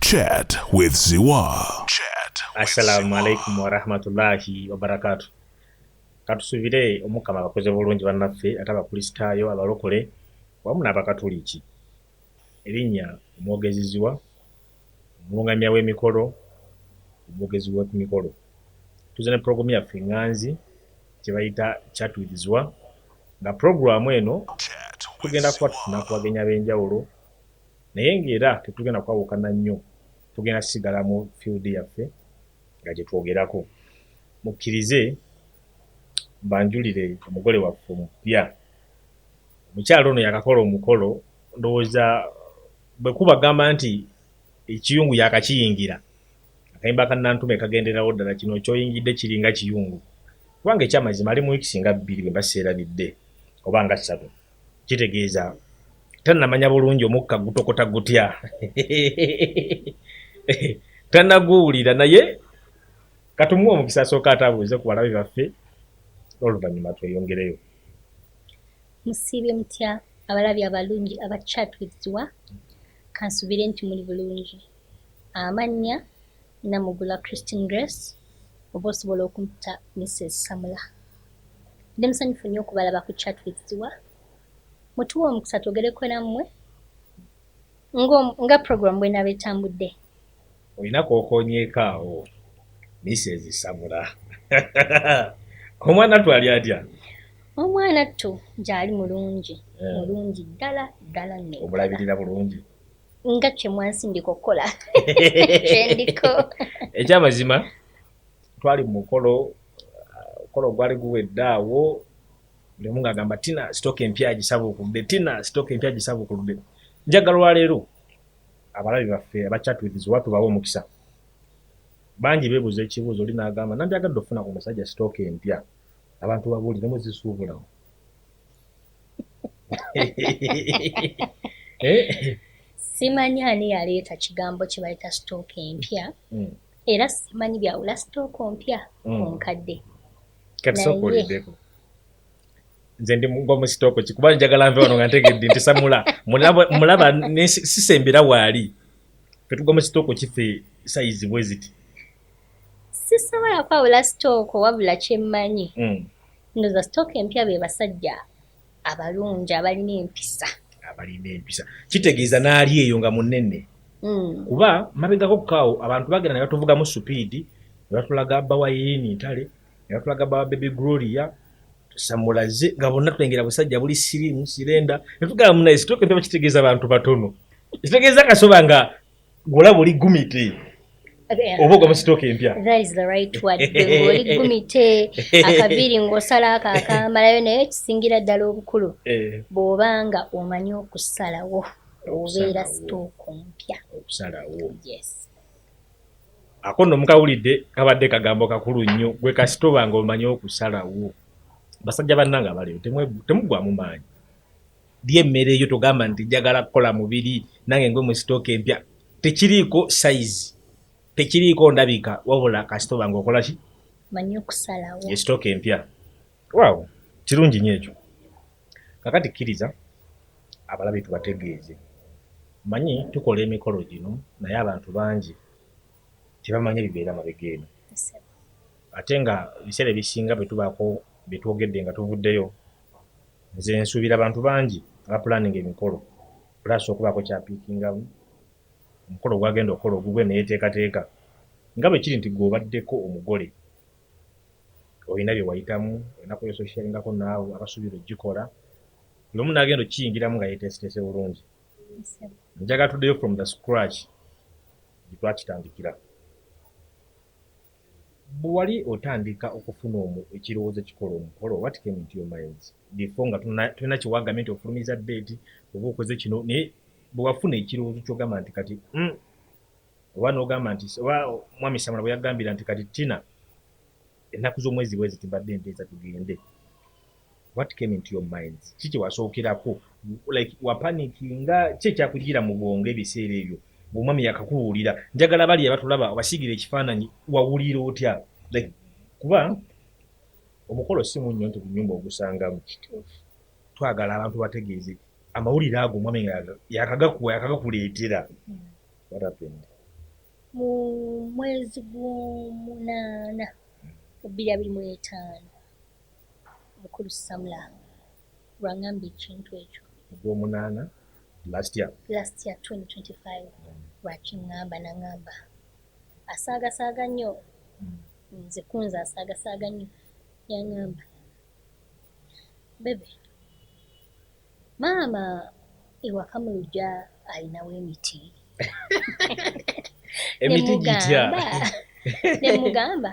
Chat with Ziwa. Chat with Assalamu Ziwa. alaikum warahmatullahi wabarakatu. Katusubire omukama abakoze bulungi bannaffe ate abakulisitaayo abalokole wamu n'abakatuliki. Erinnya omwogezi Ziwa, omulungamya w'emikolo, omwogezi w'oku mikolo. Tuze ne pulogulaamu yaffe enganzi kye bayita Chat with Ziwa nga pulogulaamu eno Chat with tugenda kuba Ziwa. tufuna ku bagenyi ab'enjawulo naye nga era tetugenda kwawukana nnyo tugenda kusigala mu field yaffe nga gyetwogerako mukkirize banjulire omugole waffe omupya omukyalo ono yakakola omukolo ndowooza bwekuba gamba nti ekiyungu yakakiyingira akayimba kanantume kagenderawo ddala kino kyoyingidde kiringa kiyungu kubanga ekyamazima ali mu wiiki singa bbiri bwe mba seerabidde oba nga ssatu kitegeeza tannamanya bulungi omukka gutokota gutya tanaguwulira naye katumuwa omukisa asooka atabuuze ku balabe baffe oluvanyuma tweyongereyo musiibye mutya abalabi abalungi aba chat with ziwa kansubire nti muli bulungi amannya Namugula Christine Grace oba osobola okumpita Mrs Samula. Ndi musanyufu nnyo okubalaba ku chat with Ziwa. Mutuwe omukisa twogereko nammwe nga program bwenaaba etambudde. Olina kwokonyeeko awo Mrs Samula. Omwana ttu ali atya? Omwana ttu gyali mulungi eh. mulungi ddala ddala nnyo. Omulabirira bulungi? nga kyemwansindika okukola kyendiko ekyamazima twali mumukolo mukolo gwali guwedde awo lemu ngaagamba tina sitoka empya gisabuukudde tina sitoka empya gisabuukudde njagala olwaleero abalabi baffe abachatwiths oba tubawa omukisa bangi bebuuza ekibuuzo oli naagamba nandyagadde okufuna ku musajja sitooka empya abantu babuuliremu zisuubulamu Eh? simanyi ani yaleeta kigambo kye bayita sitooka empya hmm. era simanyi byawula sitooka ompya ku hmm. nkadde katisokuliddeko nze ndi mugwa mu sitooko ki kuba njagala nve wano nga ntegedde nti samula mulaba sisembera waali fetugwa mu sitooko kife sayizi bweziti sisobola kwawula sitooko wabula kyemmanyi mm. ndoza sitooko empya be basajja abalungi abalina empisa abalina empisa kitegeeza naali eyo nga munene mm. kuba mabegako kukaawo abantu bagenda ne batuvugamu supiidi ne batulaga bawayini ntale ne batulaga bawa bebe gloria tusamulaze nga bonna tulengera busajja buli sirimu sirenda ne tugamba munaye sitooko empya bakitegeeza bantu batono ekitegeeza kasoba nga Golabo li gumite. Oba ogaba stock empya. That is the right word. Oli gumite akabiri ngosala aka akamalayo naye kisingira ddala obukulu. Eh. Bw'obanga omanyi okusalawo obeera stock mpya. Okusalawo. Yes. Ako nno mukawulidde kabadde kagambo kakulu nnyo gwe kasita obanga omanyi okusalawo. Basajja bannange abaleero temugwamu maanyi. Lya emmere yo togamba nti njagala kukola mubiri nange ngwe mu sitooka empya. Tekiriiko sayizi, tekiriiko ndabika wabula kasita oba ng'okola ki? Manyi okusalawo. Ye sitooka empya. Waawo, kirungi nnyo ekyo. Kakati kkiriza abalabi tubategeeze. Manyi tukola emikolo gino naye abantu bangi tebamanya bibeera mabega eno. Ate nga ebiseera ebisinga bwe tubaako bye twogedde nga tuvuddeyo, Nze nsuubira bantu bangi abapulaninga emikolo plus okubaako ky'apiikingamu ku mukolo gw'agenda okukola ogugwe ne yeeteekateeka nga bwe kiri nti gwe obaddeko omugole olina bye wayitamu, olina ku ososiyalingako n'abo abasuubira okugikola buli omu n'agenda okukiyingiramu nga yeeteeseteese bulungi. Njagala tuddeyo from the scratch gye twakitandikira. Bwe wali otandika okufuna ekirowoozo ekikola omukolo, what came into your minds before nga tolina kye wagambye nti ofulumiza date oba okoze kino, naye bwe wafuna ekirowoozo ky'ogamba nti kati hmm, oba n'ogamba nti oba Mwami Samula bwe yagambira nti kati Tina ennaku z'omwezi bwe ziti mbadde nteesa tugende. What came into your minds? Ki kyewasookerako like wapanikinga ki ekyakujjira mu bwongo ebiseera ebyo omwami yakakubuulira njagala bali abatulaba obasiigira ekifaananyi wawulira otya like kuba omukolo si munnyo nti bunyumba ogusangamu twagala abantu bategeeze amawulire ago omwami nga yakagakuwa yakagakuleetera what happened mu mwezi gw'omunaana ebbiri abiri mu etaano Mukulu Samula lwangamba ekintu ekyo. Ogwomunaana last year. Last year 2025 mm. lwakingamba nangamba asaagasaaga nnyo mm. nze kunze asaagasaaga nnyo yangamba bebe maama ewaka mu lugya alinawo emiti emiti gitya nemugamba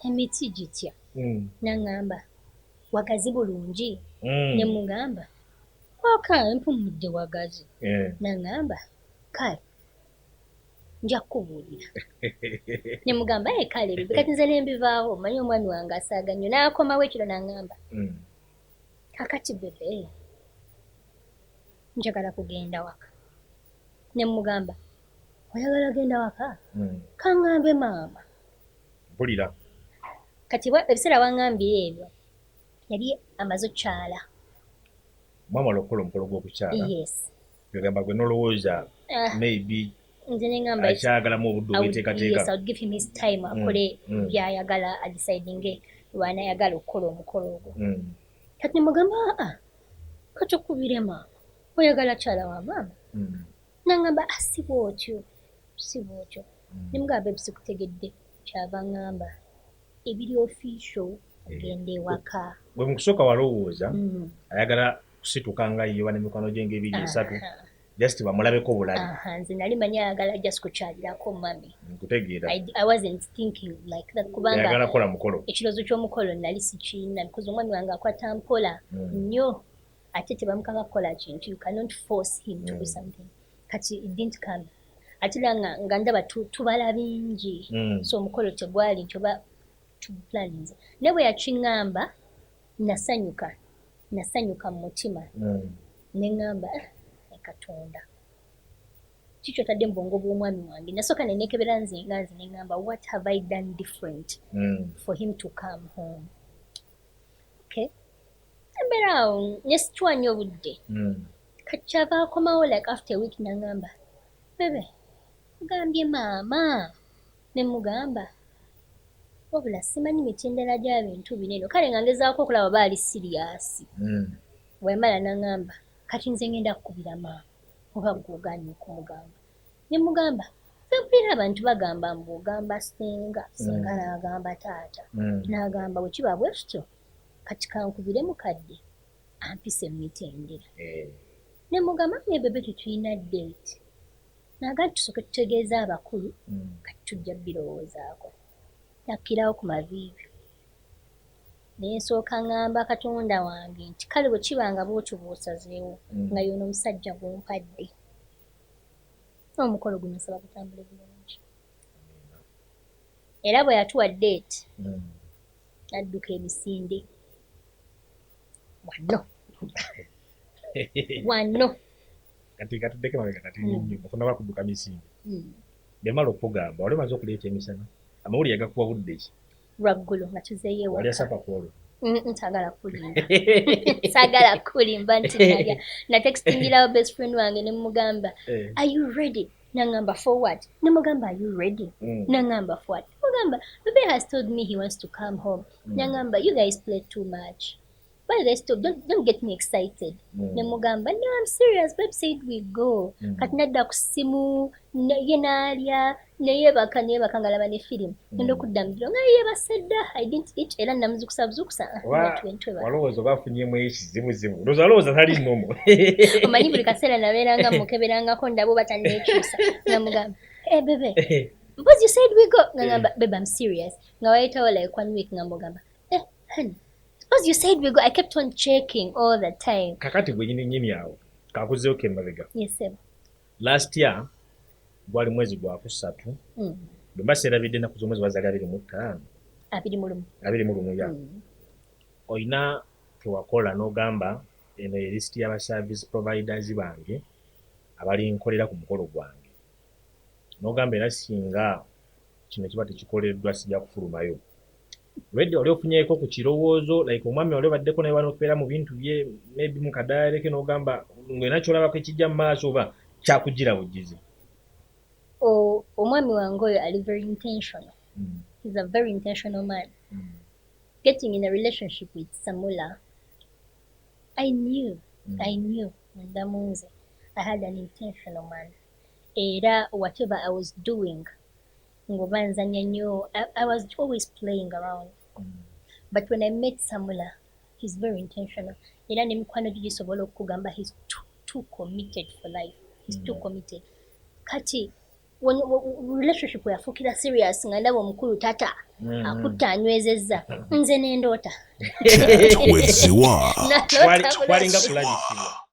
emiti gitya mm. naŋŋamba wagazi bulungi mm. ne mugamba oka empumudde wagazi yeah. naŋŋamba kale nja kukubuulira ne mugamba e kale bibi kati nze ne mbivaawo mmanyi omwami wange asaaga nnyo n'akomawo ekiro naŋŋamba mm. kakati bebe njagala kugenda waka ne mugamba oyagala genda waka mm. kaŋŋambe maama mpulira kati ebiseera wangambira ebyo yali amaze okukyala mwamala okukola omukolo gw'okukyala yes yogamba gwe nolowooza ah. maybe akyagalamu obudde obweteekateeka mm, akole mm. byayagala adisidinge lwanayagala okukola omukolo ogwo mm. kati nemugamba aa ah, ah, kati okubirema oyagala kyala wa maama nangamba asibwa otyo sibwa otyo ne mugamba bebi sikutegedde kyava ngamba ebiri official ogenda eh, ewaka gwe mukusooka walowooza mm. ayagala kusituka nga yiyoba nemikwano gye ngaebiri esatu just bamulabeko bulabi nze nali manyi ayagala just kukyalirako mami nkutegeera i wasn't thinking like that kubanga ayagala kola mukolo ekiroozo ky'omukolo nali sikiina because omwami wange akwata mpola mm. nnyo ate tebamukanga kukola kintu you cannot force him to do mm. something kati it didn't come ate era nga, nga ndaba tu, tubala bingi mm. so omukolo tegwali nti oba tuplaninze naye bwe yakiŋŋamba nasanyuka nasanyuka mu mutima mm. ne ŋŋamba ah, katonda kikyo tadde mu bwongo bw'omwami wange nasooka ne neekebera nze nga nze ne ŋŋamba what have i done different mm. for him to come home okay embeera awo ne situwa nnyo obudde mm. kati kyava akomawo like after a week nangamba bebe ogambye maama nemugamba wabula simanyi mitendera gya bintu bino eno kale nga ngezaako okulaba oba ali siriyasi hmm. wemala nangamba kati nze ngenda kukubira maama oba gwogaanyi okumugamba nemugamba mpulira abantu bagamba mbu ogamba senga senga hmm. naagamba taata hmm. naagamba wekiba bwekityo kati kankubire mukadde ampise mu mitendera eh. ne mugamba ne bebe tetulina date naga tusooke tutegeeza abakulu hmm. kati tujja birowoozaako nakkirawo ku maviivi nensooka ngamba katonda wange nti kale bwe kiba nga bwotyo bwosazeewo hmm. nga yoona omusajja gumpadde omukolo guno nsaba gutambule bulungi era bwe yatuwa date hmm. Nadduka emisinde wanno wanno kati katuddeko emabega kati nnyo hmm. okunaba kudduka misinde hmm. bemala okukugamba wali omaze okuleeta emisana amawulire yagakuwa budde ki lwaggulo nga tuzeeyo ewaka wali asapa kwolwo ntagala kulimba sagala kulimba nti nalya natextingirawo best friend wange ne mugamba eh. are you ready nangamba for what nemugamba are you ready mm. nangamba for what mugamba bebe has told me he wants to come home mm. nangamba you guys play too much why guys stop don't, don't get me excited mm. nemugamba no i'm serious beb said we go mm. kati nadda ku ssimu ye naalya neyebaka neyebaka ngalaba ne firimu ngenda mm. okudda mubiro nga yebasedda i didn't eat era namuzukusa buzukusa walowooza oba afunyemu ekizibuzibu loza alowooza tali nomo omanyi buli kaseera nabeeranga mukeberangako ndaba oba tanekyusa namugamba e eh, bebe because you said we go nga eh. ngamba bebe am serious nga wayitawo like one week nga mugamba eh honey because you said we go i kept on checking all the time kakati gwenyini nyini awo kakuzeo kemabega yes sir Last year gwali mwezi gwa kusatu mm. bwe mba serabidde ennaku z'omwezi wazali abiri mu ttaano abiri mu lumu abiri mu lumu ya mm. olina kewakola n'ogamba eno ye lisiti y'aba service providers bange abalinkolera ku mukolo gwange n'ogamba era singa kino kiba tekikoleddwa sija kufulumayo redi wali ofunyeko ku kirowoozo like omwami wali obaddeko naye wanokubeera mu bintu bye maybe mukadayaleke n'ogamba ngolina kyolabako ekijja mu maaso oba kyakujjira bujjizi omwami wange oyo ali very intentional mm. he's a very intentional man mm. getting in a relationship with samula i knew mm. i knew ndamunze i had an intentional man era whatever I was doing nga oba nzanya nyo I was always playing around but when I met Samula he's very intentional era ne mikwano gyo gisobola okukugamba he's too, too committed for life he's too mm. committed kati when, when relationship yafuukira serious nga ndaba omukulu tata mm. akutte anywezezza nze nendoota